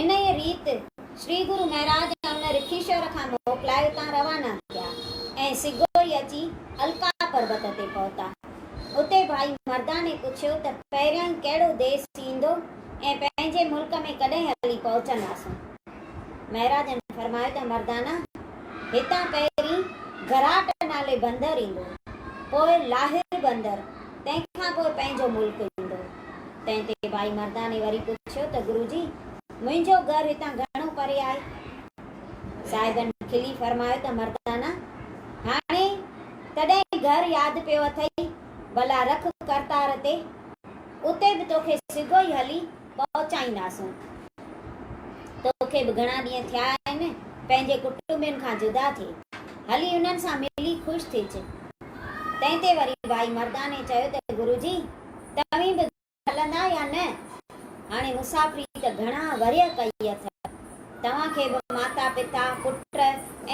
انهيء ريت شري گرو مهراج ان رکيشور کان موڪلائي اتان روانا ٿيا ۽ سگهوئي اچي الڪا پربت تي پهتا. اتي ڀائي مرداني پڇيو ته پهريائين ڪهڙو ديس ايندو ۽ پنهنجي ملڪ ۾ ڪڏهن هلي پهچنداسون؟ مهراج جن فرمايو ته مردانه! هتان پهرين گراٽ نالي بندر ايندو، پوء لاهر بندر، تنهن کان پوء پنهنجو ملڪ ايندو. تنهن تي ڀائي مرداني وري پڇيو ته گرو جي! منهنجو گهر هتان گهڻو پري آهي؟ صاحبن کلي فرمايو ته مردانه! هاڻي تڏهن گهر ياد پيو اٿئي، ڀلا رک ڪرتار تي، اتي به توکي سگهو ئي هلي پهچائينداسون. توکي به گهڻا ڏينهن ٿيا آهن پنهنجي ڪٽنبين کان جدا ٿئي. هلي انهن سان ملي خوش ٿيج. تنهن تي وري ڀائي مرداني چيو ته گرو جي توهين به هلندا يا نه؟ هاڻي مسافري ته گهڻا ورهيه ڪئي اٿئو. توهان کي به ماتا پتا، پٽ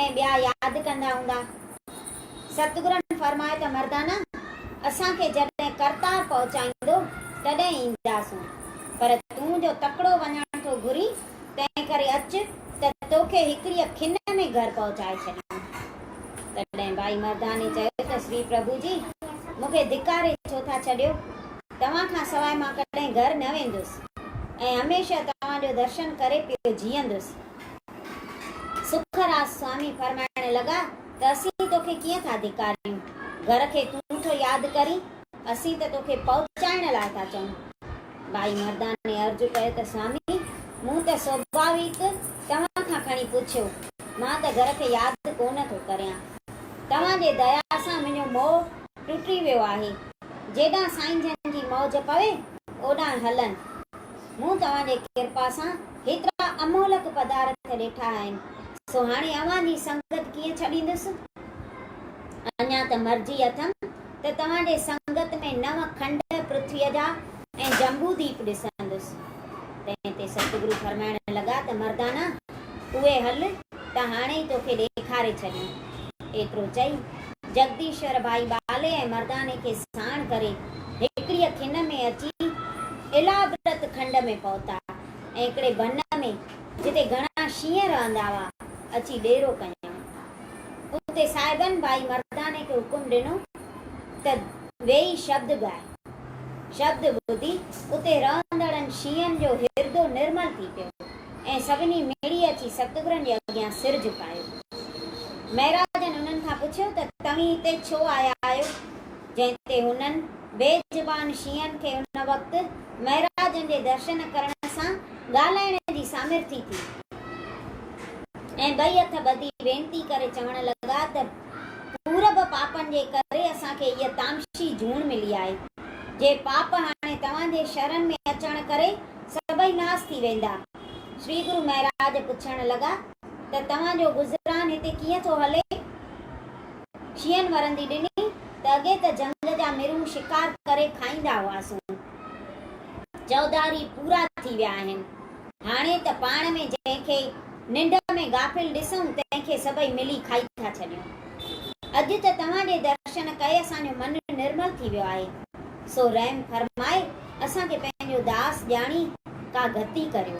۽ ٻيا ياد ڪندا هوندا. ستگرن فرمايو ته مردانه! اسان کي جڏهن ڪرتار پهچائيندو تڏهن اينداسون، پر تون جو تڪڙو وڃڻ ٿو گهرين، تنهنڪري اچ ته توکي هڪڙيء کن ۾ گهر پهچائي ڇڏيون. تڏهن ٻائي مرداني چيو ته شري پرڀو جي! مون کي ڌڪاري ڇو ٿا ڇڏيو؟ توهان کان سواء مان ڪڏهن گهر نه ويندس ۽ هميشه توهان جو درشن ڪري پيو جيئندس. سکراسوامي فرمائڻ لڳا ته اسين توکي ڪيئن ٿا ڌڪاريون، گهر کي تون ٿو ياد ڪرين، اسين ته توکي پهچائڻ لاء ٿا چئون. ٻائي مرداني عرض ڪيو ته سوامي، مون ته سوڀاويڪ توهان کان کڻي پڇيو، مان ته گهر کي ياد ڪونه ٿو ڪريان. توهان جي ديا سان منهنجو موهه ٽٽي ويو آهي، جيڏانهن سائين جن جي موج پوي، اوڏانهن هلن. مون توهان جي ڪرپا سان هيترا امهلڪ پدارٿ ڏٺا آهن، سو هاڻي اوهان جي سنگت ڪيئن ڇڏيندس؟ اڃا ته مرضي اٿم ته توهان جي سنگت ۾ نو کنڊ پرٿويء جا ۽ جمبوديپ ڏسندس. تنهن تي ستگرو فرمائڻ لڳا ته مردانا! اهي هل ته هاڻي ئي توکي ڏيکاري ڇڏيون. ايترو چئي، جگديشور ڀائي ٻالي ۽ مرداني کي ساڻ ڪري هڪڙيء کن ۾ اچي الابرت کنڊ ۾ پهتا ۽ هڪڙي بنهه ۾ جتي گهڻا شينهن رهندا هئا، اچي ڏيرو ڪيائون. اتي صاحبن ڀائي مرداني کي حڪم ڏنو ته ويهي شبد ڳاء. شبد ٻڌي اتي رهندڙن شينهن جو هردو نرمل ٿي پيو ۽ سڀني مڙي اچي ستگرن جي اڳيان سر جهڪايو. مهراجن انهن کان پڇيو ته توهين هتي ڇو آيا آهيو؟ جنهن تي هنن بي زبان شيعن کي ان وقت مهراجن جي درشن ڪرڻ سان ڳالهائڻ جي سامرٿي ٿي ۽ ٻئي هٿ ٻڌي وينتي ڪري چوڻ لڳا ته پورب پاپن جي ڪري اسان کي هيء تامشي جوڻ ملي آهي. جي پاپ هاڻي توهان جي شرن ۾ اچڻ ڪري سڀئي ناس ٿي ويندا. شري گرو مهراج پڇڻ لڳا ته توهان جو گذران هتي ڪيئن ٿو هلي؟ شينهن ورندي ڏني ته اڳي ته جهنگ جا مرون شڪار ڪري کائيندا هئاسون. چوڌاري پورا ٿي ويا آهن. هاڻي ته پاڻ ۾ جنهن کي ننڊ ۾ غافل ڏسون تنهن کي سڀئي ملي کائي ٿا ڇڏيون. اڄ ته توهان جي درشن ڪئي اسان جو من نرمل ٿي ويو آهي. سو رحم فرمائي اسان کي پنهنجو داس ڄاڻي ڪا گهتي ڪريو.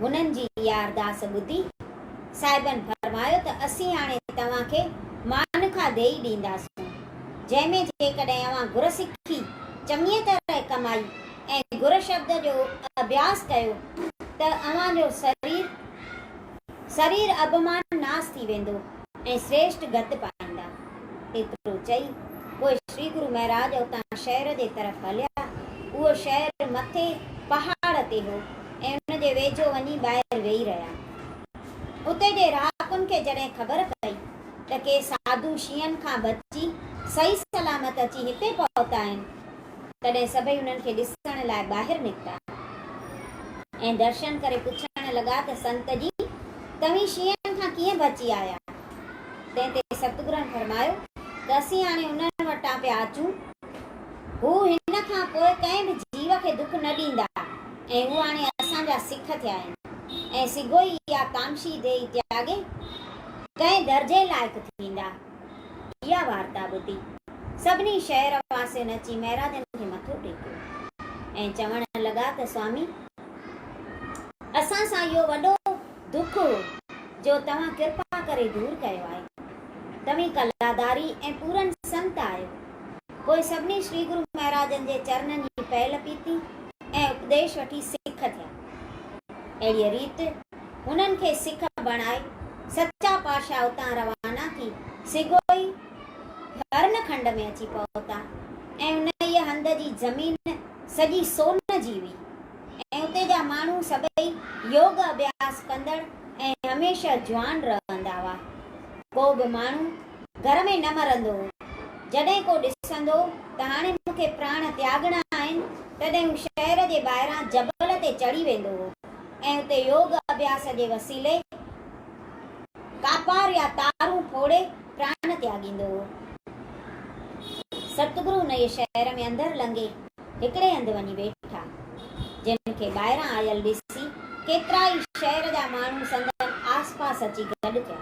هنن جي اها ارداس ٻڌي صاحبن فرمايو ته اسين هاڻي توهان کي مانکا ديئي ڏينداسون، جنهن ۾ جيڪڏهن اوهان گر سکي، چڱيء طرح ڪمائي ۽ گر شبد جو اڀياس ڪيو ته اوهان جو سرير سرير اڀمان ناس ٿي ويندو ۽ سريشٽ گت پائيندا. ايترو چئي پوء شري گرو مهراج اتان شهر جي طرف هليا. اهو شهر مٿي پهاڙ تي هو ۽ ان جي ويجهو وڃي ٻاهر ويهي رهيا. اتي جي رهاڪن کي جڏهن خبر پئي ته ڪي ساڌو شينهن کان بچي صحيح سلامت اچي هتي پهتا آهن، تڏهن سڀئي انهن کي ڏسڻ لاء ٻاهر نڪتا ۽ درشن ڪري پڇڻ لڳا ته سنت جي، توهين شينهن کان ڪيئن بچي آيا؟ تنهن تي ستگرن فرمايو ته اسين هاڻي انهن وٽان پيا اچون، هو هن کان پوء ڪنهن به جيو کي دک نه ڏيندا. ۽ هو هاڻي اسان جا سک ٿيا آهن ۽ سگهو ئي اها ڪامشي ديئي تياڳي ڪنهن درجي لائق ٿيندا. اها وارتا ٻڌي سڀني شهر واسين اچي مهراجن کي مٿو ٽيڪيو ۽ چوڻ لڳا ته سوامي! اسان سان اهو وڏو دک هو جو توهان ڪرپا ڪري دور ڪيو آهي. توهين ڪلاداري ۽ پورن سنت آهيو. پوء سڀني شري گرو مهراجن جي چرنن جي پيل پيتي ۽ اپديش وٺي سک ٿيا. اهڙيء ريت هنن کي سک بڻائي سچا پاشا اتان روانا ٿي سگهوئي هرن کنڊ ۾ اچي پهتا ۽ انهيء هنڌ جي زمين سڄي سون جي هئي ۽ اتي جا ماڻهو سڀئي يوگ اڀياس ڪندڙ ۽ هميشه جوان رهندا هئا. ڪو به ماڻهو گهر ۾ نه مرندو هو. جڏهن ڪو ڏسندو ته هاڻي مون کي پراڻ تياڳڻا آهن، تڏهن هو شهر جي ٻاهران جبل تي چڙهي ويندو هو ۽ اتي يوگ اڀياس جي وسيلي ڪاپار يا تارون ڦوڙي پراڻ تياڳيندو هو. ستگرو انهيء شهر ۾ اندر لنگهي هڪڙي هنڌ وڃي ويٺا، جن کي ٻاهران آيل ڏسي ڪيترائي شهر جا ماڻهو سندن آس پاس اچي گڏ ٿيا.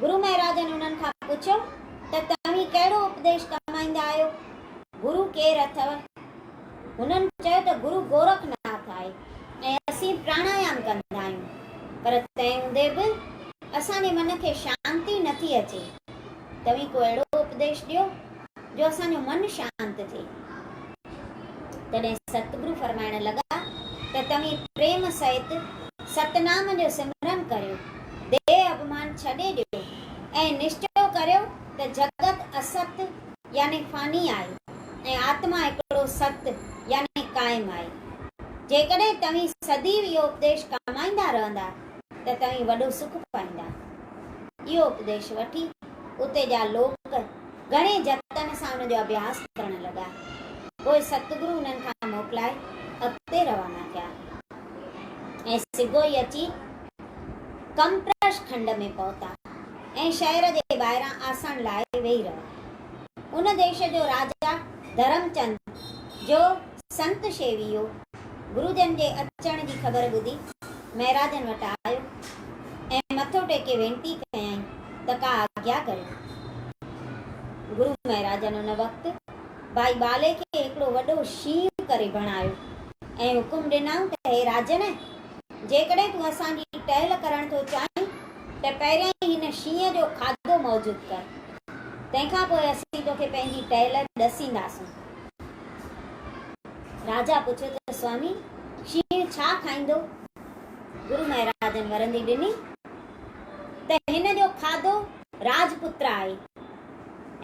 گرو مهراجن انهن کان پڇيو ته توهين ڪهڙو اپديش ڪمائيندا آهيو؟ گرو ڪير اٿئو؟ هنن چيو ته گرو گورک ناٿ آهي ۽ اسين پراڻايام ڪندا آهيون، پر تنهن هوندي به اسان جي من کي شانتي نٿي اچي، توهين ڪو اهڙو اپديش ڏيو جو اسان جو من شانت ٿئي. تڏهن ستگرو فرمائڻ لڳا ته توهين پريم سهت ستنام جو سمرن ڪريو، ديهه اڀمان ڇڏي ڏيو ۽ نشچو ڪريو ته جڳت است يعني فاني آهي ۽ آتما هڪڙو ست يعني قائم آهي. جيڪڏهن توهين سديو اهو اپديش ڪامائيندا رهندا ته توهين وڏو سک پائيندا. اهو اپديش وٺي اتي جا لوڪ گهڻي جتن سان ان جو اڀياس ڪرڻ لڳا. پوء ستگرو انهن کان موڪلائي اڳتي روانا ٿيا ۽ سگهو ئي اچي ڪمپرش کنڊ ۾ پهتا ۽ شهر جي ٻاهران آسڻ لاء ويهي رهيا. ان ديش جو راجا ڌرمچند جو سنت شيويو گروجن جي اچڻ جي خبر ٻڌي مهراجن وٽ آيو ۽ مٿو ٽيڪي وينتي ڪيائين ته ڪا آگيا ڪريو. گرو مهراجن ان وقت ڀائي ٻالي کي هڪڙو وڏو شينهن ڪري بڻايو ۽ حڪم ڏنائون ته هي راجن! جيڪڏهن تون اسان جي ٽهل ڪرڻ ٿو چاهين ته پهريائين هن شينهن جو کاڌو موجود ڪر. تنهن کان پوء اسين توکي پنهنجي ٽهل ڏسينداسون. راجا پڇيو ته سوامي شينهن ڇا کائيندو؟ گرو مهراجن ورندي ڏني ته هن جو کاڌو راجپوتر آهي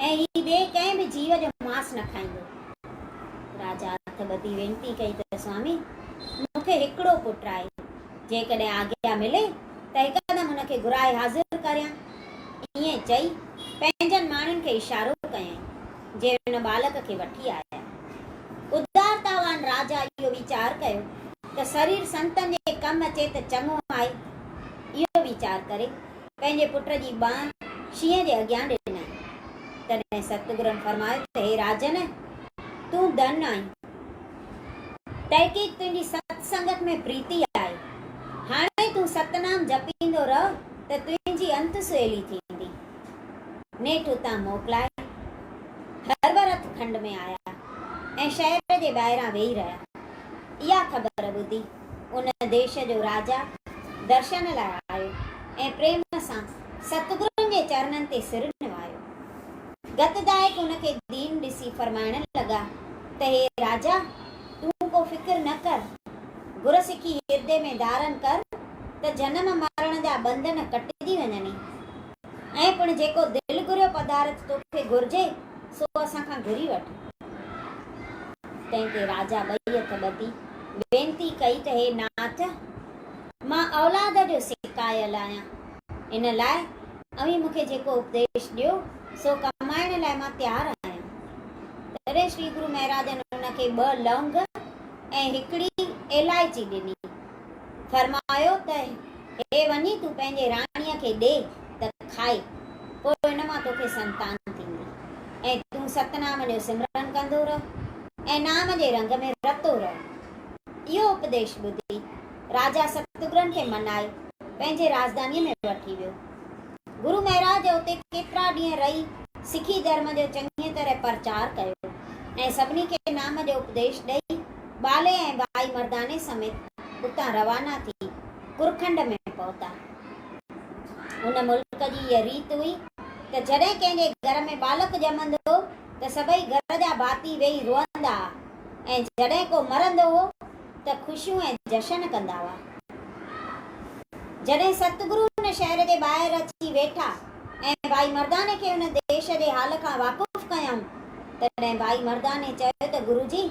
۽ هي ٻئي ڪنهن به جيو جو ماس نه کائيندو. راجا هٿ ٻڌي وينتي ڪئي ته سوامي مون کي هڪڙو پٽ آهي، جيڪڏهن آگيا ملي ته هڪدم ان کي گهرائي حاضر ڪريان. ائين چئي پنهنجن ماڻهن کي اشارو ڪيائين. جي ان ٻالڪ کي وٺي آيا. ادارتاوان راجا اهو ويچار ڪيو ته سرير سنتن جي ڪم اچي ته چڱو آهي. اهو ويچار ڪري پنهنجي پٽ جي ٻانهن شينهن جي اڳيان ڏنائين. تڏهن ستگرن فرمايو ته هي راجن! تون ڌن آهين. تحقيق تنهنجي ست سنگت ۾ پريتي آهي. هاڻي تون ستنام جپيندو رهه ته تنهنجي انت سهيلي ٿيندي. نيٺ اتان موڪلائي هرورٿ کنڊ ۾ آيا ۽ شهر جي ٻاهران ويهي رهيا. اها خبر ٻڌي ان ديش جو راجا درشن لاء آيو ۽ پريم سان ستگرن جي چرنن تي سر نوايو. گت گائڪ ان کي دين ڏسي فرمائڻ لڳا ته هي راجا! تون ڪو فڪر نه ڪر. گر سکي هردي ۾ ڌارن ڪر ته جنم مرڻ جا ٻنڌن ڪٽجي وڃني. ۽ پڻ جيڪو دل گهريو پدارٿ توکي گهرجي، سو اسان کان گهري وٺ. تنهن تي راجا ٻئي هٿ ٻڌي وينتي ڪئي ته هي ناٿ! مان اولاد جو سڪايل آهيان، ان لاء اوهين مون کي جيڪو اپديش ڏيو، سو ڪمائڻ لاء مان تيار آهيان. تڏهن شري گرو مهراجن ان کي ٻه لونگ ۽ هڪڙي ايلائچي ڏني. فرمايو ته هي وڃي تون پنهنجي راڻيء کي ڏي ته کائي، پوء ان مان توکي سنتان ٿيندي ۽ تون ستنام جو سمرن ڪندو رهه ۽ نام جي رنگ ۾ رتو رهه. اهو اپديش ٻڌي راجا ستگرن کي منائي پنهنجي راجڌانيء ۾ وٺي ويو. گرو مهراج اتي ڪيترا ڏينهن رهي سکي ڌرم جو چڱيء طرح پرچار ڪيو ۽ سڀني کي نام جو اپديش ڏئي ٻالي ۽ ٻائي مرداني سميت اتان روانا ٿي ڪرکنڊ ۾ پهتا. ان ملڪ جي اها ريت هئي ته جڏهن ڪنهن جي گهر ۾ ٻالڪ ڄمندو هو ته سڀئي گهر جا ڀاتي ويهي روئندا ها ۽ جڏهن ڪو مرندو هو ته خوشيون ۽ جشن ڪندا هئا. جڏهن ستگرو ان شهر جي ٻاهر اچي ويٺا ۽ ٻائي مرداني کي ان ديش جي حال کان واقف ڪيائون تڏهن ٻائي مرداني چيو ته گرو جي!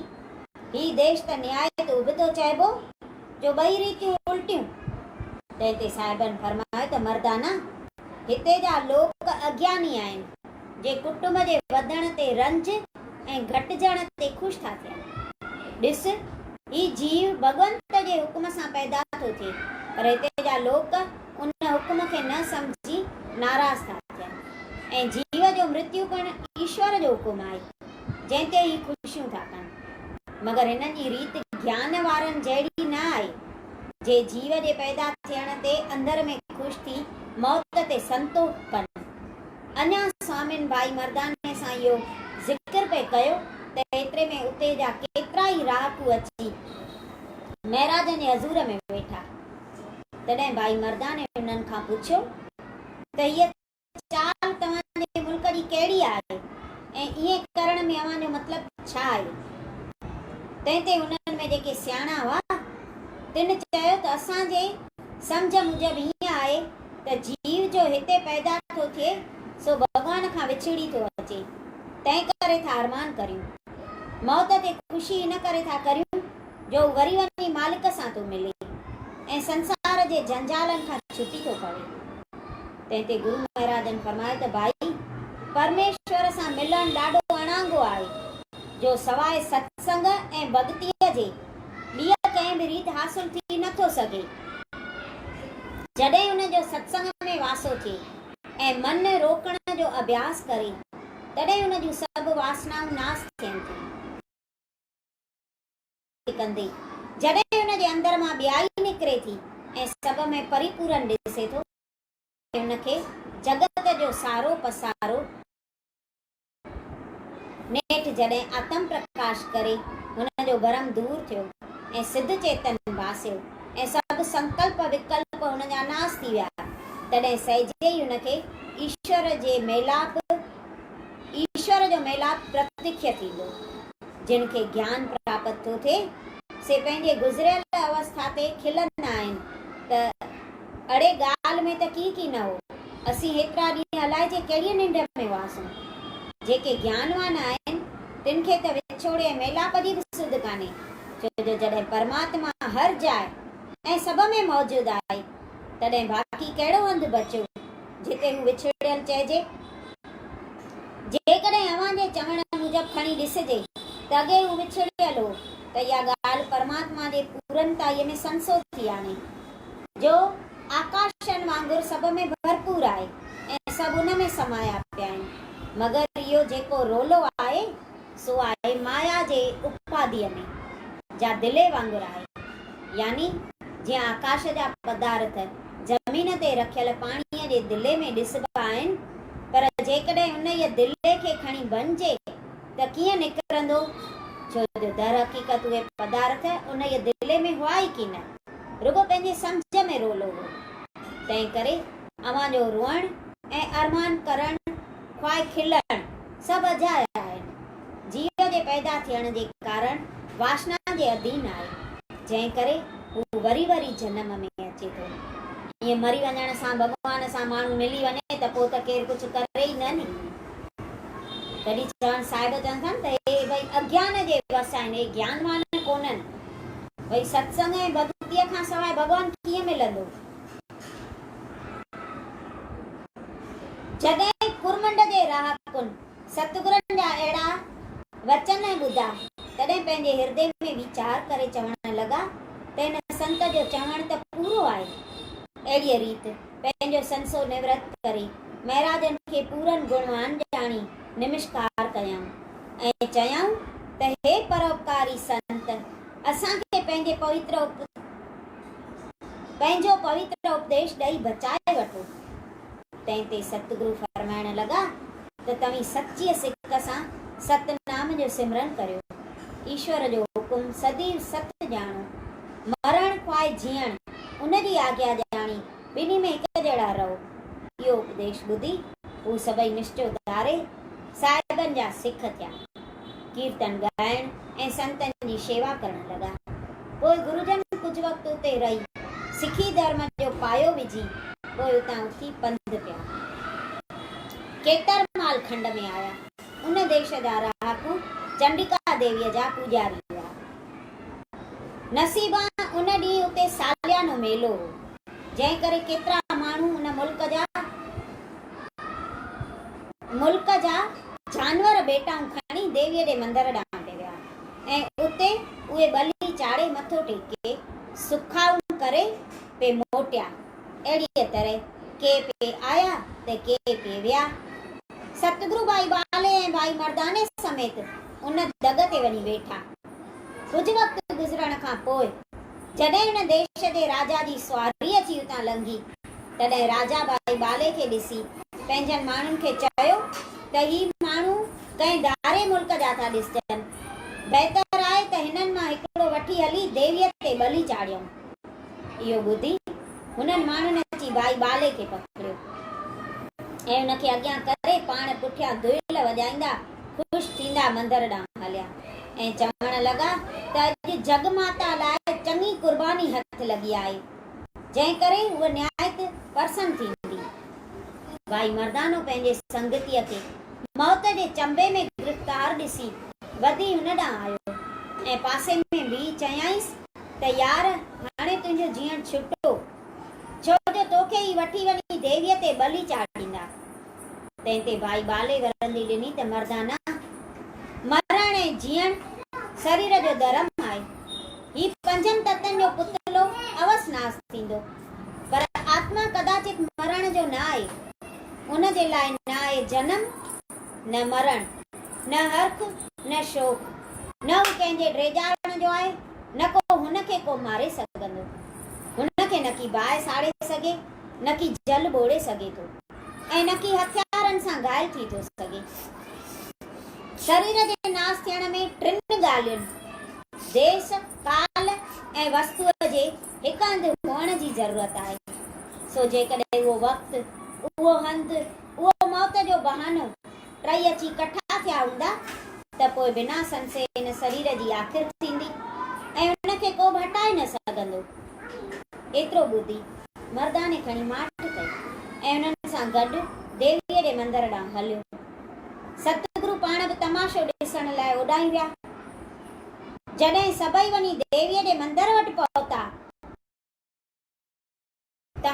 هي ديش ته نهايت ابتو چئبو، جو ٻئي ريتيون الٽيون. تنهن تي صاحبن فرمايو ته مردانا! هتي جا لوڪ اگياني آهن، جي ڪٽنب جي وڌڻ تي رنج ۽ گهٽجڻ تي خوش ٿا ٿين. ڏس، هي جيو ڀڳونت جي حڪم سان پيدا ٿو ٿئي، پر هتي جا لوڪ ان حڪم کي نه سمجهي ناراض ٿا ٿين ۽ جيو جو مرتيو پڻ ايشور جو حڪم آهي. جنهن تي هي خوشيون ٿا ڪن. مگر هنن جي ريت گيان وارن جهڙي نه آهي، جي جيو جي پيدا ٿيڻ تي اندر ۾ خوش ٿي موت تي سنتوک ڪن. اڃا سوامين ڀائي مرداني سان اهو ذڪر پئي ڪيو ته ايتري ۾ اتي جا ڪيترا ئي رهاڪو اچي مهراجن جي حضور ۾ ويٺا. تڏهن ڀائي مرداني هنن کان پڇيو ته هيء چال توهان جي ملڪ جي ڪهڙي آهي ۽ ائين ڪرڻ ۾ اوهان جو مطلب ڇا آهي؟ تنهن تي انهن ۾ جيڪي سياڻا هئا، تن چيو ته اسان جي سمجهه موجب ائين آهي ته جيو جو هتي پيدا ٿو ٿئي سو ڀڳوان کان وڇڙي ٿو اچي، تنهن ڪري ٿا ارمان ڪريون. موت تي خوشي ان ڪري ٿا ڪريون جو هو وري وڃي مالڪ سان ٿو ملي ۽ سنسار جي جنجالن کان ڇٽي ٿو پوي. تنهن تي گرو مهراجن فرمايو ته ڀائي، پرميشور سان ملڻ ڏاڍو اڻانگو آهي، جو سواء ستسنگ ۽ ڀڳتيء جي ٻيء ڪنهن به ريت حاصل ٿي نه ٿو سگهي. جڏهن ان جو ستسنگ ۾ واسو ٿئي ۽ من روڪڻ جو اڀياس ڪري، تڏهن ان جون سڀ واسنائون ناس ٿين ٿيون. ائين ڪندي، جڏهن ان جي اندر مان ٻيائي نڪري ٿي ۽ سڀ ۾ پريپورن ڏسي ٿو، هن کي جڳت جو سارو پسارو نيٺ جڏهن آتم پرڪاش ڪري هن جو ڀرم دور ٿيو ۽ سڌ چيتن باسيو ۽ سڀ سنڪلپ وڪلپ هن جا ناس ٿي ويا تڏهن سهجي ئي هن کي ايشور جي ميلاپ ايشور جو ميلاپ پرتکيه ٿيندو. جن کي گيان پراپت ٿو ٿئي سي پنهنجي گذريل اوسٿا تي کلندا آهن ته اڙي ڳالهه ۾ ته ڪي ڪي نه هو. اسين هيترا ڏينهن الائجي ڪهڙيء ننڊ ۾ هئاسون. جيڪي گيانوان آهن، تن کي ته وڇوڙي ۽ ميلاپ جي به سڌ ڪانهي، ڇو جو جڏهن پرماتما هر جاء ۽ سڀ ۾ موجود آهي، تڏهن باقي ڪهڙو هنڌ بچيو، جتي هو وڇڙيل چئجي؟ جيڪڏهن اوهان جي چوڻ موجب کڻي ڏسجي ته اڳي هو وڇڙيل هو، ته اها ڳالهه پرماتما جي پورنتائيء ۾ سنسو ٿي آڻي. جو آڪاشن وانگر سڀ ۾ ڀرپور آهي ۽ سڀ ان ۾ سمايا پيا آهن، مگر اهو جيڪو رولو آهي، سو آهي مايا جي اپاڌيء ۾، جا دلي وانگر آهي. يعني جيئن آڪاش جا پدارٿ زمين تي رکيل پاڻيء جي دلي ۾ ڏسبا آهن، پر جيڪڏهن انهيء دلي کي کڻي ڀڃجي ته ڪيئن نڪرندو؟ ڇو جو درحقيقت اهي پدارٿ انهيء دلي ۾ هئا ئي ڪينه. رڳو پنهنجي سمجهه ۾ رولو هو، تنهنڪري اوهان جو روئڻ ۽ ارمان ڪرڻ خواهه کلڻ سڀ اجايا آهن. جيء جي پيدا ٿيڻ جي ڪارڻ واشنا جي اڌين آهي، جنهن ڪري هو وري وري جنم ۾ اچي ٿو. ائين مري وڃڻ سان ڀڳوان سان ماڻهو ملي وڃي ته پوء ته ڪير ڪجهه ڪري ئي نه ني. تڏهن چوهان صاحب چون ٿا نه ته هي ٻئي اگيان جي وس آهن، اهي گيانوان ڪونهن. ڀئي ستسنگ ۽ ڀڳتيء کان سواء ڀڳوان ڪيئن ملندو؟ جڏهن ڪرمنڊ جي رهاڪن ستگرن جا اهڙا وچن ۽ ٻڌا، تڏهن پنهنجي هردي ۾ ويچار ڪري چوڻ لڳا ته هن سنت جو چوڻ ته پورو آهي. اهڙيء ريت پنهنجو سنسو نورت ڪري مهراجن کي پورن گڻوان ڄاڻي نمشڪار ڪيائون ۽ چيائون ته هي پروپڪاري سنت اسان کي پنهنجي پويتر پنهنجو پويتر اپديش ڏئي بچائي وٺو. تنهن تي ستگرو فرمائڻ لڳا ته توهين سچيء سڪ سان ستنام جو سمرن ڪريو. ايشور جو حڪم سديو ست ڄاڻو. مرڻ خواهه جيئڻ ان جي آجيا ڄاڻي ٻنهي ۾ هڪ جهڙا رهو. اهو اپديش ٻڌي، هو سڀئي نشچو ڌاري، صاحبن جا سک ٿيا. ڪيرتن ڳائڻ ۽ سنتن جي شيوا ڪرڻ لڳا. پوء گروجن ڪجهه وقت اتي رهي، سکي ڌرم جو پايو وجهي، پوء اتان اٿي پنڌ پيا. کيترمال کنڊ ۾ آيا. ان ديش جا رهاڪو چنڊڪا ديويء جا پوڄاري هئا. نصيبان ان ڏينهن اتي ساليانو ميلو هو، جنهن ڪري ڪيترا ماڻهو ان ملڪ جا ملڪ جا جانور ڀيٽائون کڻي ديويء جي مندر ڏانهن پئي ويا ۽ اتي اهي ٻلي چاڙهي مٿو ٽيڪي سکائون ڪري پئي موٽيا. اهڙيء طرح ڪي پئي آيا ته ڪي پئي ويا. ستگرو ڀائي ٻالهي ۽ ڀائي مرداني سميت ان دڳ تي وڃي ويٺا. ڪجهه وقت گذرڻ کان پوء جڏهن هن ديش جي راجا جي سواري اچي اتان لنگهي، تڏهن راجا ڀائي ٻالهي کي ڏسي پنهنجن ماڻهن کي چيو ته هي ماڻهو ڪنهن ڌاري ملڪ جا ٿا ڏسجن. بهتر آهي ته هنن مان هڪڙو وٺي هلي ديويء تي ٻلي چاڙهيون. اهو ٻڌي هنن ماڻهن اچي ڀائي ٻالي کي پڪڙيو ۽ ان کي اڳيان ڪري پاڻ پٺيان دهل وڄائيندا خوش ٿيندا مندر ڏانهن هليا ۽ چوڻ لڳا ته اڄ جڳ ماتا لاء چڱي قرباني هٿ لڳي آهي جنهن ڪري هوء نهايت پرسن ٿيندي. ڀائي مردانو پنهنجي سنگتيء کي موت جي چنبي ۾ گرفتار ڏسي وڌي هن ڏانهن آيو ۽ پاسي ۾ بيهي چيائينس ته يار هاڻي تنهنجو جيئڻ ڇٽو، ڇو جو توکي ئي وٺي وڃي ديويء تي ٻلي چاڙهينداس. تنهن تي ڀائي ٻالي ورندي ڏني ته مردانه، مرڻ ۽ جيئڻ سرير جو درم آهي. هي پنجن تتن جو پتلو اوس ناس ٿيندو، پر آتما ڪداچت مرڻ جو نه آهي. ان جي لاء نه آهي جنم نه مرڻ، نه هرک، نه شوق، نه هو ڪنهن جي ڊيڄارڻ جو آهي، نه ڪو هن کي ڪو ماري سگهندو. هن کي نه ڪي باهه ساڙي سگهي، نه ڪي جل ٻوڙي سگهي ٿو ۽ نه ڪي هٿيارن سان گهائل ٿي ٿو سگهي. سرير جي ناس ٿيڻ ۾ ٽن ڳالهين، ديس، ڪال ۽ وستوء جي هڪ هنڌ هئڻ جي ضرورت آهي. سو جيڪڏهن اهو وقت، اهو هنڌ، اهو موت جو بهانو. ٽئي اچي ڪٺا ٿيا هوندا ته پوء بنا سنسي هن سرير جي آخر ٿيندي ۽ ان کي ڪوبه هٽائي نه سگهندو. ايترو ٻڌي مرداني کڻي ماٺ ڪئي ۽ انهن سان گڏ ديويء جي مندر ڏانهن هليو. ستگرو پاڻ به تماشو ڏسڻ لاء اوڏانهن ويا. جڏهن سڀئي وڃي ديويء جي مندر وٽ پهتا. ته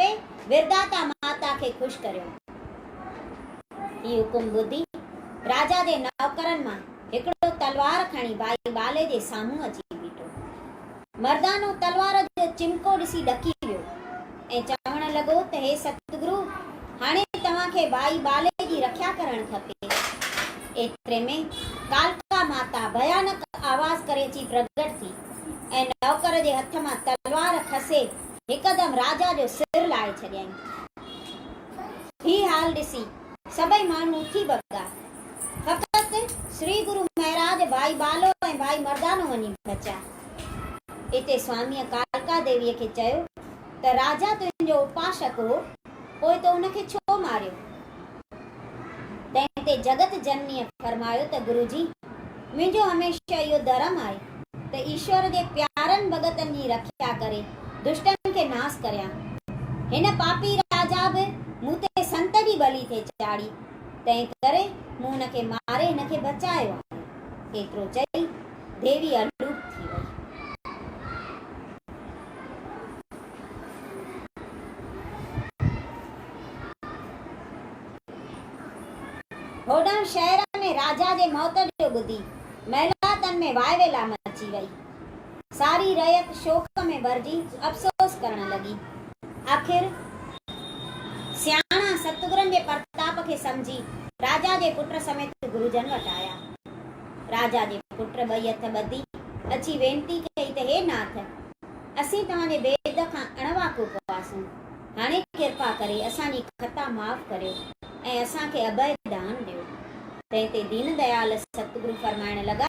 ڪري ورداتا ماتا کي خوش ڪريو. هي حڪم ٻڌي راجا جي نوڪرن مان هڪڙو تلوار کڻي ٻائي ٻالي جي سامهون اچي بيٺو. مردانو تلوار جو چمڪو ڏسي ڏڪي ويو ۽ چوڻ لڳو ته هي ستگرو هاڻي توهان کي ٻائي ٻالي جي رکيا ڪرڻ کپي. ايتري ۾ ڪالڪا ماتا ڀيانڪ آواز ڪري اچي پرگٽ ٿي ۽ نوڪر جي هٿ مان تلوار کسي هڪدم راجا جو سر لاهي ڇڏيائين. هي حال ڏسي سڀئي ماڻهو اٿي ڀڳا. فقط سري گرو مهراج، ڀائي ٻالو ۽ ڀائي مردانو وڃي بچيا. اتي سواميء ڪالڪا ديويء کي چيو ته راجا تنهنجو اپاشڪ هو. پوء تو ان کي ڇو ماريو؟ تنهن تي جڳت جننيء فرمايو ته گرو جي! منهنجو هميشه اهو ڌرم آهي ته ايشور جي پيارن ڀڳتن جي رکيا ڪري دشٽن کي ناس ڪريان. هن پاپي راجا به مون تي سنت جي ٻلي ٿي چاڙهي، تنهن ڪري مون هن کي ماري هن کي بچايو آهي. ايترو چئي ديوي الوپ ٿي وئي. هوڏانهن شهر ۾ راجا جي موت جو ٻڌي محلاتن ۾ واء ويلا مچي وئي. ساري رعيت شوق ۾ ڀرجي افسوس ڪرڻ لڳي. آخر سياڻا ستگرن جي پرتاپ کي سمجهي راجا جي پٽ سميت گروجن وٽ آيا. راجا جي پٽ ٻئي هٿ ٻڌي اچي وينتي ڪئي ته هي ناٿ! اسين توهان جي ويد کان اڻواقف هئاسون، هاڻي ڪرپا ڪري اسان جي خطا معاف ڪريو ۽ اسان کي اڀئي ڏانهن ڏيو. تنهن تي دين ديال ستگرو فرمائڻ لڳا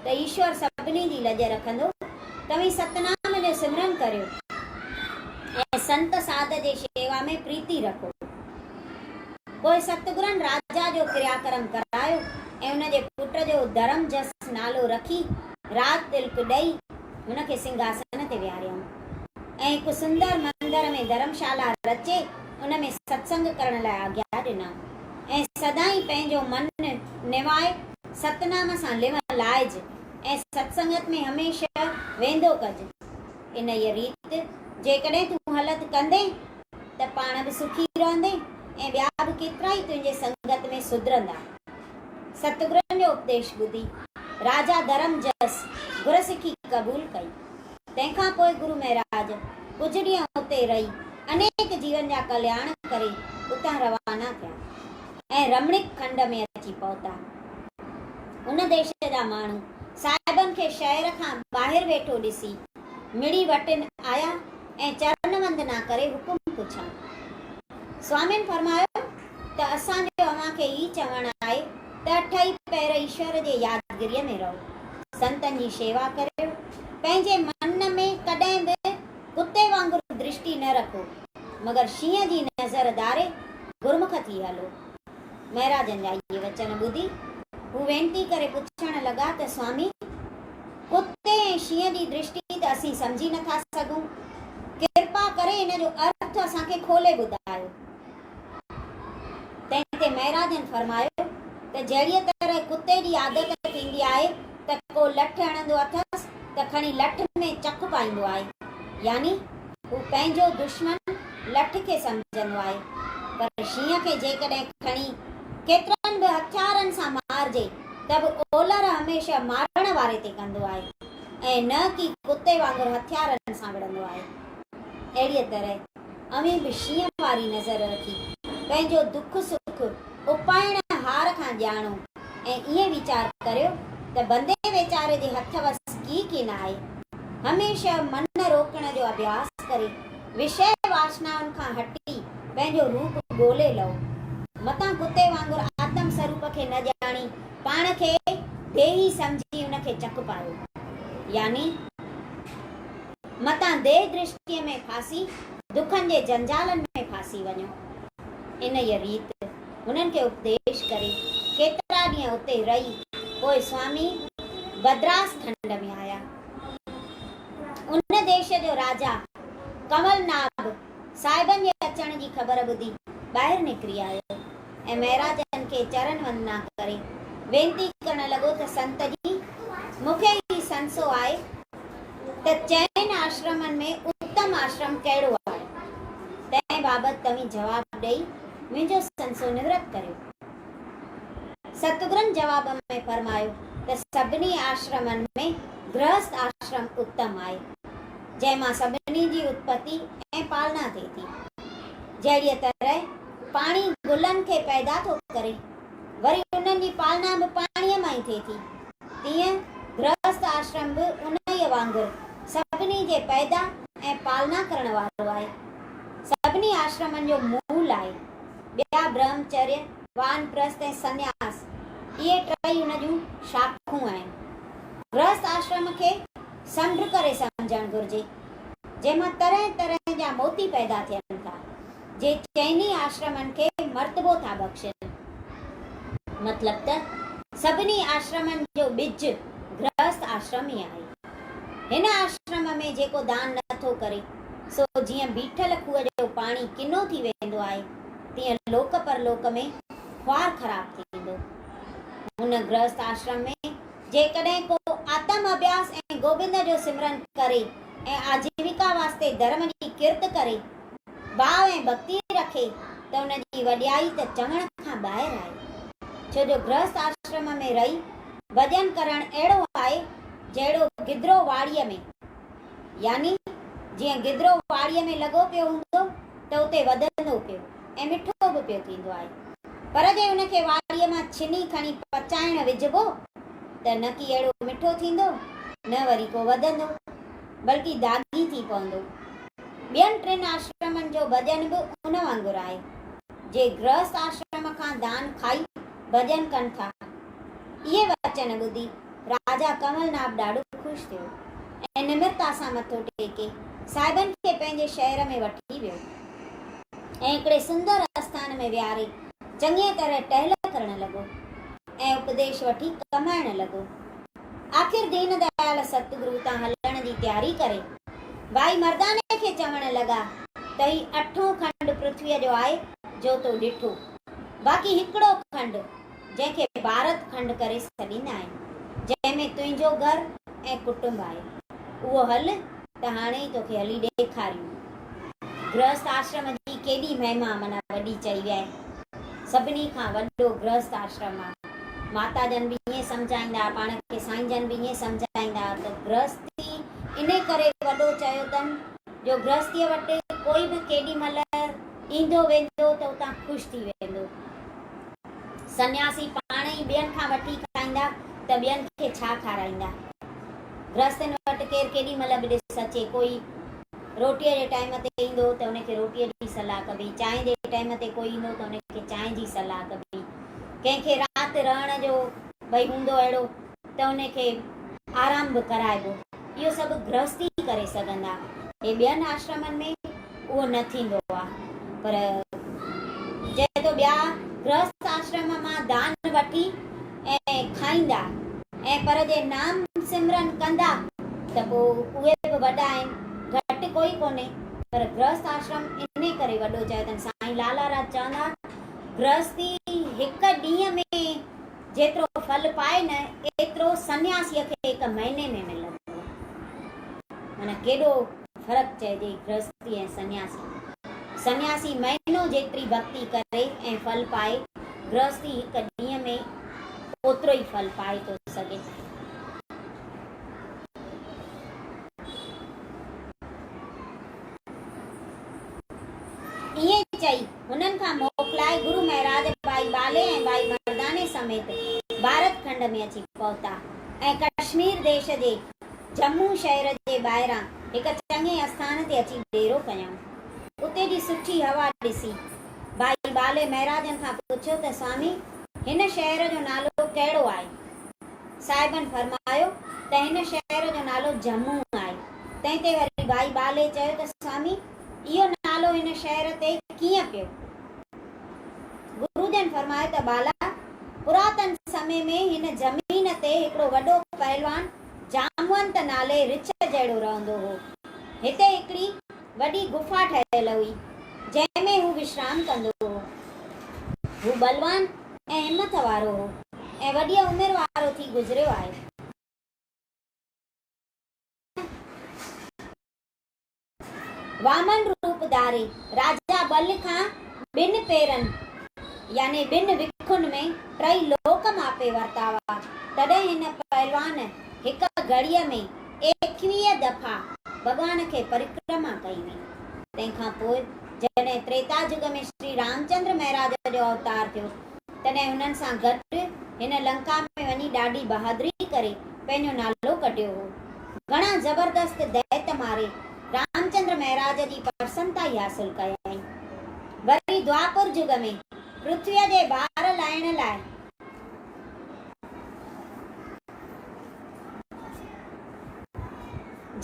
ته ايشور سڀني جي لڄ رکندو، توهين ستنام جو سمرن ڪريو ۽ سنت ساڌ جي شيوا ۾ پريتي رکو. پوء ستگرن راجا جو ڪرياڪرم ڪرايو ۽ ان جي پٽ جو درم جس نالو رکي راج تلڪ ڏئي هن کي سنگهاسن تي ويهاريائون ۽ هڪ سندر مندر ۾ ڌرم شالا رچي ان ۾ ستسنگ ڪرڻ لاء آگيا ڏنائون ۽ سدائين پنهنجو من نوائي ستنام سان لنء لائج ۽ ستسنگت ۾ هميشه ويندو ڪج. انهيء ريت جيڪڏهن تون هلت ڪندين ته پاڻ به سکي رهندين ۽ ٻيا به ڪيترائي تنهنجي سنگت ۾ سڌرندا. ستگرن جو اپديش ٻڌي، راجا ڌرم جس گر سکي قبول ڪئي. تنهن کان پوء گرو مهراج ڪجهه ڏينهن اتي رهي انيڪ جيون جا ڪلياڻ ڪري اتان روانا ٿيا ۽ رمڻڪ کنڊ ۾ اچي پهتا. ان ديش جا ماڻهو صاحبن کي شهر کان ٻاهر ويٺو ڏسي مڙي وٽن آيا ۽ چرن وندنا ڪري حڪم پڇيائون. سوامين فرمايو ته اسان جو اوهان کي هي چوڻ آهي ته اٺئي پهر ايشور جي يادگريء ۾ رهو، سنتن جي شيوا ڪريو، پنهنجي من ۾ ڪڏهن به ڪتي وانگر درشٽي نه رکو، مگر شينهن جي نظر ڌاري گرمک ٿي هلو. مهراجن جا اهي وچن ٻڌي، هو وينتي ڪري پڇڻ لڳا ته سوامي! ڪتي ۽ شينهن جي درشٽي ته اسين سمجهي نه ٿا سگهون، ڪرپا ڪري ان جو ارٿ اسان کي کولي ٻڌايو. تنهن تي مهراج جن فرمايو ته جهڙيء طرح ڪتي جي عادت ٿيندي آهي ته ڪو لٺ هڻندو اٿس ته کڻي لٺ ۾ چڪ پائيندو آهي، يعني هو پنهنجو دشمن لٺ کي سمجهندو آهي، پر شينهن کي جيڪڏهن کڻي ڪيترن به هٿيارن سان مارجي ته به اولهه هميشه مارڻ واري تي ڪندو آهي ۽ نه ڪي ڪتي وانگر هٿيارن سان وڙهندو آهي. اهڙيء طرح اوهين به شينهن واري نظر رکي، پنهنجو دک سک اپائڻ هار کان ڄاڻو ۽ ائين ويچار ڪريو ته بندي ويچاري جي هٿ وس ڪي ڪين آهي. هميشه من روڪڻ جو اڀياس ڪري، وشيه واشنائن کان هٽي، پنهنجو روپ ڳولي لهو. متان ڪتي وانگر آتم سروپ کي نه ڄاڻي، پاڻ کي ديهي سمجهي ان کي چڪ پايو. يعني. متان ديھ درشتيء ۾ ڦاسي دکن جي جنجالن ۾ ڦاسي وڃو. انھيء ريت ھنن کي اپديش ڪري ڪيترا ڏينھن اتي رھي پوء سوامي بدراس کنڊ ۾ آيا. ان ديش جو راجا ڪنول ناڀ صاحبن جي اچڻ جي خبر ٻڌي ٻاھر نڪري آيو ۽ مھاراجن کي چرن وندنا ڪري وينتي ڪرڻ لڳو ته سنت جي مون کي ھي سنسو آھي ته چئن آشرمن ۾ اتم آشرم ڪهڙو آهي؟ تنهن بابت توهين جواب ڏئي منهنجو سنسو نورت ڪريو. ستگرن جواب ۾ فرمايو ته سڀني آشرمن ۾ گرهست آشرم اتم آهي، جنهن مان سڀني جي اتپتي ۽ پالنا ٿئي ٿي. جهڙيء طرح پاڻي گلن کي پيدا ٿو ڪري، وري انهن جي پالنا به پاڻيء مان ئي ٿئي ٿي، تيئن گرهست آشرم به انهيء وانگر سڀني جي پيدا ۽ پالنا ڪرڻ وارو آهي. سڀني آشرمن جو مول آهي. ٻيا برهمچريه، وانپرست ۽ سنياس، اهي ٽئي ان جون شاخون آهن. گرهست آشرم کي سمنڊ ڪري سمجهڻ گهرجي، جنهن مان طرح طرح جا موتي پيدا ٿين ٿا. جي چئني آشرمن کي مرتبو ٿا بخشين. مطلب ته سڀني آشرمن جو ٻج گرهست آشرم ئي آهي. هن آشرم ۾ جيڪو دان نه ٿو ڪري، سو جيئن بيٺل کوهه جو پاڻي ڪنو ٿي ويندو آهي، تيئن لوڪ پرلوڪ ۾ خوار خراب ٿيندو. هن گرهست آشرم ۾ جيڪڏهن ڪو آتم اڀياس ۽ گوبند جو سمرن ڪري ۽ آجيويڪا واسطي ڌرم جي ڪرت ڪري باء ۽ ڀڳتي رکي ته ان جي وڏيائي ته چوڻ کان ٻاهر آهي. ڇو جو گرهست آشرم ۾ رهي ڀڄن ڪرڻ اهڙو آهي جهڙو گدرو واڙيء ۾. يعني جيئن گدرو واڙيء ۾ لڳو پيو هوندو ته اتي وڌندو پيو ۽ مٺو به پيو ٿيندو آهي. پر جي ان کي واڙيء مان ڇني کڻي پچائڻ وجهبو ته نه ڪي اهڙو مٺو ٿيندو نه وري ڪو وڌندو بلڪه داڳي ٿي پوندو. ٻين ٽن آشرمن جو ڀڄن به ان وانگر آهي. جي گرهست آشرم کان دان کائي ڀڄن ڪن ٿا. اهي وچن ٻڌي راجا ڪنول ناب ڏاڍو خوش ٿيو ۽ نمرتا سان مٿو ٽيڪي صاحبن کي پنهنجي شهر ۾ وٺي ويو ۽ هڪڙي سندر اسٿان ۾ ويهاري چڱيء طرح ٽهل ڪرڻ لڳو ۽ اپديش وٺي ڪمائڻ لڳو. آخر دين ديال ستگرو تان هلڻ جي تياري ڪري، ڀائي مرداني کي چوڻ لڳا ته هي اٺون کنڊ پرٿويء جو آهي جو تو ڏٺو، باقي هڪڙو کنڊ، جنهن کي ڀارت کنڊ ڪري سڏيندا آهن، جنهن ۾ تنهنجو گهر ۽ ڪٽنب آهي، اهو هل ته هاڻي ئي توکي هلي ڏيکاريون. گرهست آشرم جي ڪيڏي مهما معنيٰ وڏي چئي ويا آهن. سڀني کان وڏو گرهست آشرم آهي. ماتا جن به ائين سمجهائيندا هئا، پاڻ کي سائين جن به ائين سمجهائيندا هئا ته گرهستي انهي ڪري وڏو چيو اٿن جو گرهستيء وٽ ڪوئي به ڪيڏي مهل ايندو ويندو ته اتان خوش ٿي ويندو. سنياسي پاڻ ئي ٻين کان وٺي کائيندا ته ٻين کي ڇا کارائيندا. گرهستين وٽ ڪير ڪيڏي مهل به ڏس اچي، ڪوئي روٽيء جي ٽائيم تي ايندو ته ان کي روٽيء جي صلاح ڪبي، چانهه جي ٽائيم تي ڪوئي ايندو ته ان کي چانهه جي صلاح ڪبي، ڪنهن کي رات رهڻ جو ڀئي هوندو اهڙو ته ان کي آرام به ڪرائبو. اهو سڀ گرهست ئي ڪري سگهندا. هي ٻين آشرمن ۾ اهو نه ٿيندو آ. پر جڏهن تو ٻيا گرهست آشرم مان دان وٺي ۽ کائيندا ۽ پر جي نام سمرن ڪندا ته پو اهي به وڏا آهن، گهٽ ڪوئي ڪونهي. پر گرهست آشرم انهي ڪري وڏو چيو اٿن. سائين لالا راج چوندا، گرهستي هڪ ڏينهن ۾ جيترو ڦل پائي نه ايترو سنياسيء کي هڪ مهيني ۾ ملندو آهي. معنيٰ ڪيڏو فرق چئجي گرهستي ۽ سنياسي ۾. سنياسي مهينو جيتري ڀڳتي ڪري ۽ ڦل پائي، گرهستي هڪ ڏينهن ۾ اوترو ئي ڦل پائي ٿو سگهي ۽ ائين چئي هنن کان موڪلائي گرو مهراج ٻائي ٻالي ۽ ٻائي مرداني سميت ڀارت کنڊ ۾ اچي پهتا ۽ ڪشمير ديش جي جمون شهر جي ٻاهران هڪ چڱي اسٿان تي اچي ڏيرو ڪيائون. اتي جي سٺي هوا ڏسي، ٻائي ٻالي مهراجن کان پڇيو ته سوامي هن شهر جو نالو ڪهڙو آهي؟ صاحبن فرمايو ته هن شهر جو نالو جمون آهي. تنهن تي وري ٻائي ٻالي چيو ته سوامي! اهو نالو هن شهر تي ڪيئن پيو؟ گرو جن فرمايو ته ٻالا! پراتن سمي ۾ هن زمين تي هڪڙو وڏو پهلوان جامونت نالي رڇ جهڙو رهندو هو. هتي هڪڙي وڏي غفا ٺهيل هئي، جنهن ۾ هو وشرام ڪندو هو. هو بلوان ۽ همٿ وارو هو ۽ وڏيء عمر وارو ٿي گذريو آهي. وامن روپ ڌاري راجا ٻل کان ٻن پيرن يعني ٻن وکن ۾ ٽئي لوڪ ماپي ورتا هئا، تڏهن هن پهلوان هڪ گهڙيء ۾ ايڪويهه دفعا ڀڳوان کي پرڪرما ڪئي هئي. تنهن کان پوء جڏهن تريتا جڳ ۾ شري رامچندر مهراج جو اوتار ٿيو، تڏهن هنن سان گڏ هن لنڪا ۾ وڃي ڏاڍي بهادري ڪري پنهنجو نالو ڪڍيو هو. گهڻا زبردست ديت ماري رامچندر مهراج جي پرسنتائي حاصل ڪيائين. وري دوآپر جڳ ۾ پرٿويء جي بار لاهڻ لاء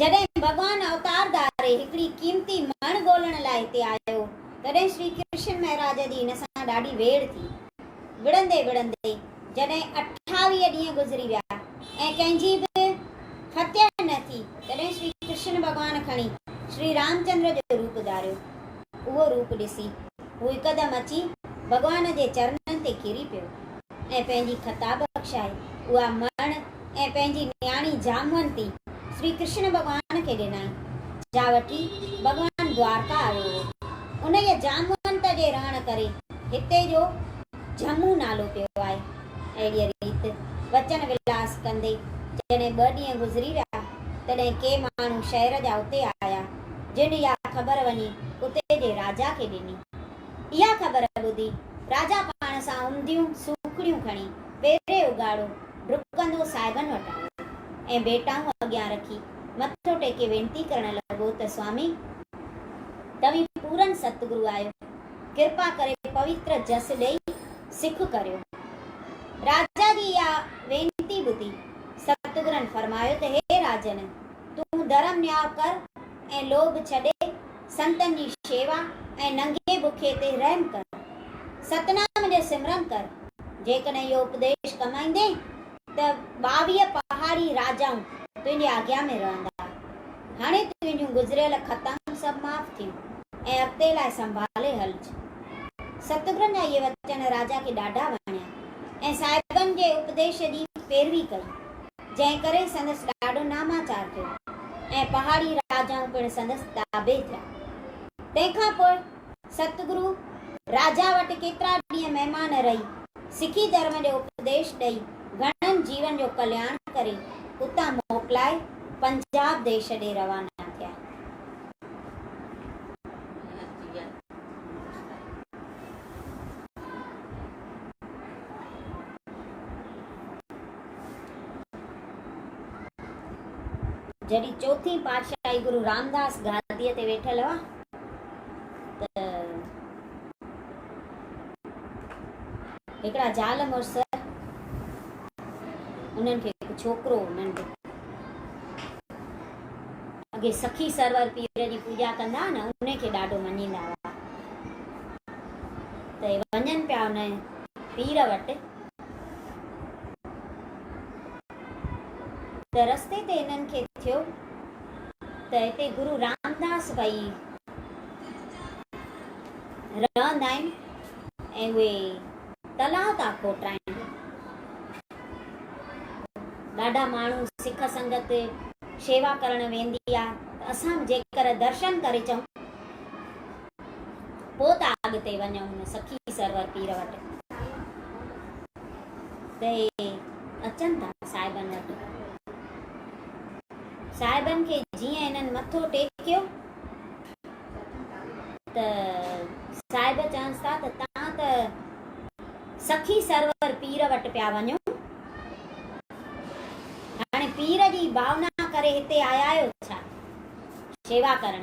جڏهن ڀڳوان اوتار ڌاري هڪڙي قيمتي مڻ ڳولڻ لاء هتي آيو، تڏهن شري ڪرشن مهراج جي هن سان ڏاڍي ويڙهه ٿي. وڙهندي وڙهندي. جڏهن اٺاويهه ڏينهن گذري ويا ۽ ڪنهن جي به فتح نه ٿي، تڏهن شري ڪرشن ڀڳوان کڻي شري رامچندر جو روپ ڌاريو. اهو روپ ڏسي هو هڪدم اچي ڀڳوان جي چرنن تي ڪري پيو ۽ پنهنجي خطا بخشائي اها مڻ ۽ پنهنجي نياڻي جامونتي شري ڪرشن ڀڳوان کي ڏنائين، جا وٺي ڀڳوان دوارڪا آيو هو. انهيء جامونت جي رهڻ ڪري هتي جو جهمون نالو پيو آهي. اهڙيء ريت وچن ولاس ڪندي جڏهن ٻه ڏينهن گذري ويا، تڏهن ڪي ماڻهو شهر جا اتي آيا، جن اها خبر وڃي اتي جي راجا کي ڏني. اها خبر ٻڌي راجا پاڻ سان عمديون سوکڙيون کڻي پيري اگهاڙو ڊڪندو صاحبن وٽ آيو ۽ ڀيٽائون اڳيان رکي مٿو ٽيڪي وينتي ڪرڻ لڳو ته سوامي! توهين پورن ستگرو آهيو. ڪرپا ڪري پويتر جس ڏئي سک ڪريو. راجا جي اها وينتي ٻڌي ستگرن فرمايو ته هي راجن! تون ڌرم نياء ڪر ۽ لوڀ ڇڏي سنتن جي شيوا ۽ ننگي بکي تي رحم ڪر. ستنام جو سمرن ڪر. جيڪڏهن اهو اپديش ڪم ايندين ته ٻاويهه پهاڙي راجائون تنهنجي آجيا ۾ رهندا. هاڻي تنهنجون گذريل خطائون سڀ معاف ٿيون ۽ اڳتي لاء سنڀالي هلج. ستگرن جا اهي وچن راجا کي ڏاڍا وڻيا ۽ صاحبن جي اپديش جي پيروي ڪئي، جنهن ڪري سندس ڏاڍو ناماچار ٿيو ۽ پهاڙي راجائون پڻ سندس تابع ٿيا. تنهن کان پوء ستگرو راجا وٽ ڪيترا ڏينهن مهمان رهي، سکي ڌرم جو اپديش ڏئي، گهڻن جيون جو ڪلياڻ ڪري، اتان موڪلائي پنجاب ديش ڏي روانا ٿيا. جڏهن چوٿين پاٽشاهي گرو رامداس گاديء تي ويٺل هئا. ته هڪڙا زال مڙس انهن کي هڪ ڇوڪرو ننڍ اڳي سخي سرور پير جي پوڄا ڪندا نه ان کي ڏاڍو مڃيندا هئا ته وڃن پيا ان پير وٽ ته رستي تي انهن کي ٿيو ته هتي گرو رامداس ڀئي رهندا آهن ۽ اهي تلاء ٿا کوٽرائن. ڏاڍا ماڻهو سک سنگت شيوا ڪرڻ ويندي آهي ته اسان به جيڪر درشن ڪري اچون پوء ٿا اڳتي وڃون هن سخي سرور پير وٽ ته اهي اچن ٿا صاحبن وٽ. صاحبن کي جيئن انهن مٿو ٽيڪيو ته صاحب چونس ٿا ته توهان ته سخي سرور پير وٽ پيا وڃو هاڻي پير جي ڀاونا ڪري هتي آيا آهيو ڇا شيوا ڪرڻ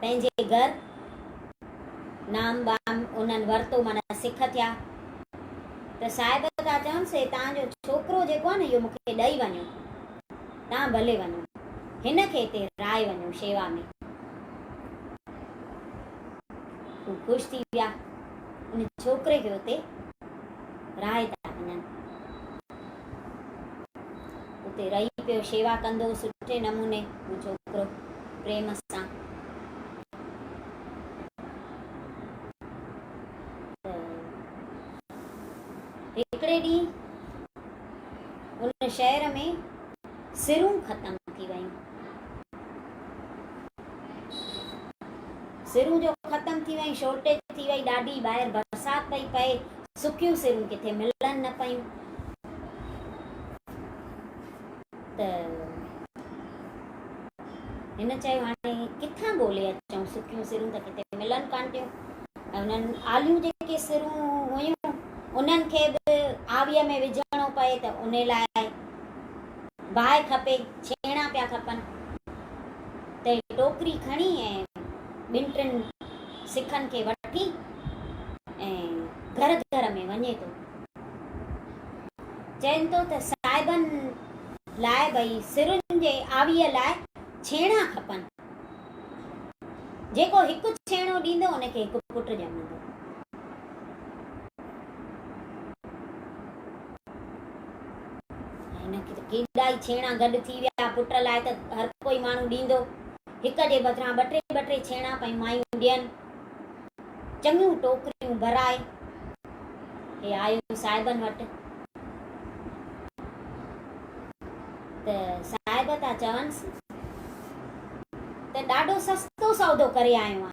پنهنجي گهر نام بام انهن ورتو معنيٰ سک ٿيا ته صاحب ٿا چون سي تان جو ڇوڪرو جيڪو آهي نه اهو مونکي ڏئي وڃو تان ڀلي وڃو هن کي هتي رائي وڃو شيوا ۾ هو خوش ٿي ويا ان ڇوڪري کي هتي رائي ٿا وڃن. اتي رهي پيو شيوا ڪندو سٺي نموني هو ڇوڪرو پريم سان هڪڙي ڏينهن ان شهر ۾ سرون ختم ٿي ويون سرون جو ختم ٿي ويون شورٽيج ٿي وئي ڏاڍي ٻاهر برسات پئي پئي سڪيون سرون ڪٿي ملن نه پيون ته هن چيو هاڻي ڪٿان ڳولي اچون سڪيون سرون ته ڪٿي ملن ڪان پيون ۽ انهن آليون جيڪي سرون هيون انهن کي به آويء ۾ وجهڻو پئي ته ان لاء باهه کپي ڇيڻا پيا کپن ته ٽوڪري کڻي ۽ ٻن ٽن سکن کي وٺي ۽ گهر گهر ۾ وڃي ٿو. چين ٿو ته صاحبن لاء ٻئي سرن جي آويء لاء ڇيڻا کپن. جيڪو هڪ ڇيڻو ڏيندو ان کي هڪ پٽ ڄمندو. هن کي ته ڪيڏا ئي ڇيڻا گڏ ٿي ويا. پٽ لاء ته هر ڪوئي ماڻهو ڏيندو. هڪ جي بدران ٻه ٽي ٻه ٽي ڇيڻا پئي مايون ڏين. چڱيون ٽوڪريون ڀرائي هي آيو صاحبن وٽ ته صاحب ٿا چونس ته ڏاڍو سستو سودو ڪري آيو آهيان.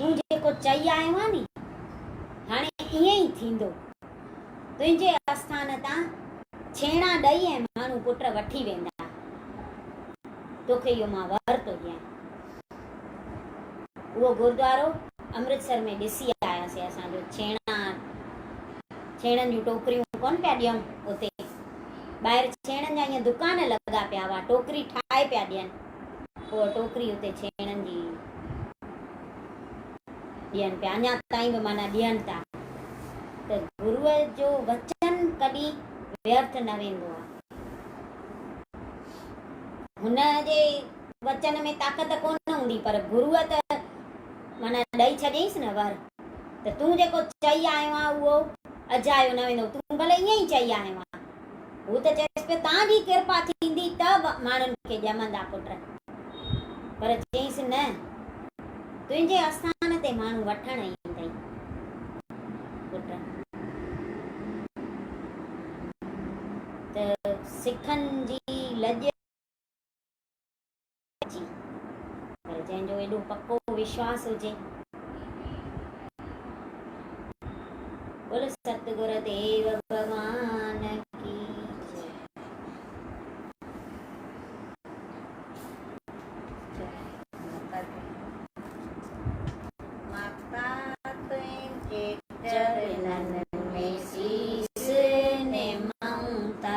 تون جيڪو چئي آيو آهين ني، هاڻي ائين ئي ٿيندو. تنهنجي آسٿان تان ڇيڻا ڏئي ۽ ماڻهو پٽ وٺي ويندا. توکي اهو مان وهر ٿو ڏيان. اهو گوردوارو امرتسر ۾ ڏسي آياسين اسان جو ڇيڻا، ڇيڻن جون ٽوڪريون ڪونه پيا ڏيون اتي. ٻاهر ڇيڻن جا ائين دڪان لڳا پيا هئا، ٽوڪري ٺاهي پيا ڏين. اها ٽوڪري اتي ڇيڻن جي ڏين پيا، اڃا تائين به معنيٰ ڏين ٿا ته گروء جو وچن ڪڏهن ويرٿ نه ويندو آهي. هن جي وچن ۾ طاقت ڪونه هوندي پر گروء ته معنيٰ ڏئي ڇڏيائينس نه ور ته تون جيڪو چئي آيو آهين اهو اجايو نه ويندو، تون ڀلي ائين ئي چئي آيو آهين. هو ته چيس پيو، تان جي ڪرپا ٿيندي ته ماڻهن کي ڄمندا پٽ. پر چيس نه، تنهنجي آستان تي ماڻهو وٺڻ ايندئي پٽ. ته سکن جي لڄ. اچي، پر جنهن جو ايڏو پڪو وشواس هجي. بول ست گر ديو ڀڳوان ڪي جي. چرنن ۾ سيس نمائون ٿا.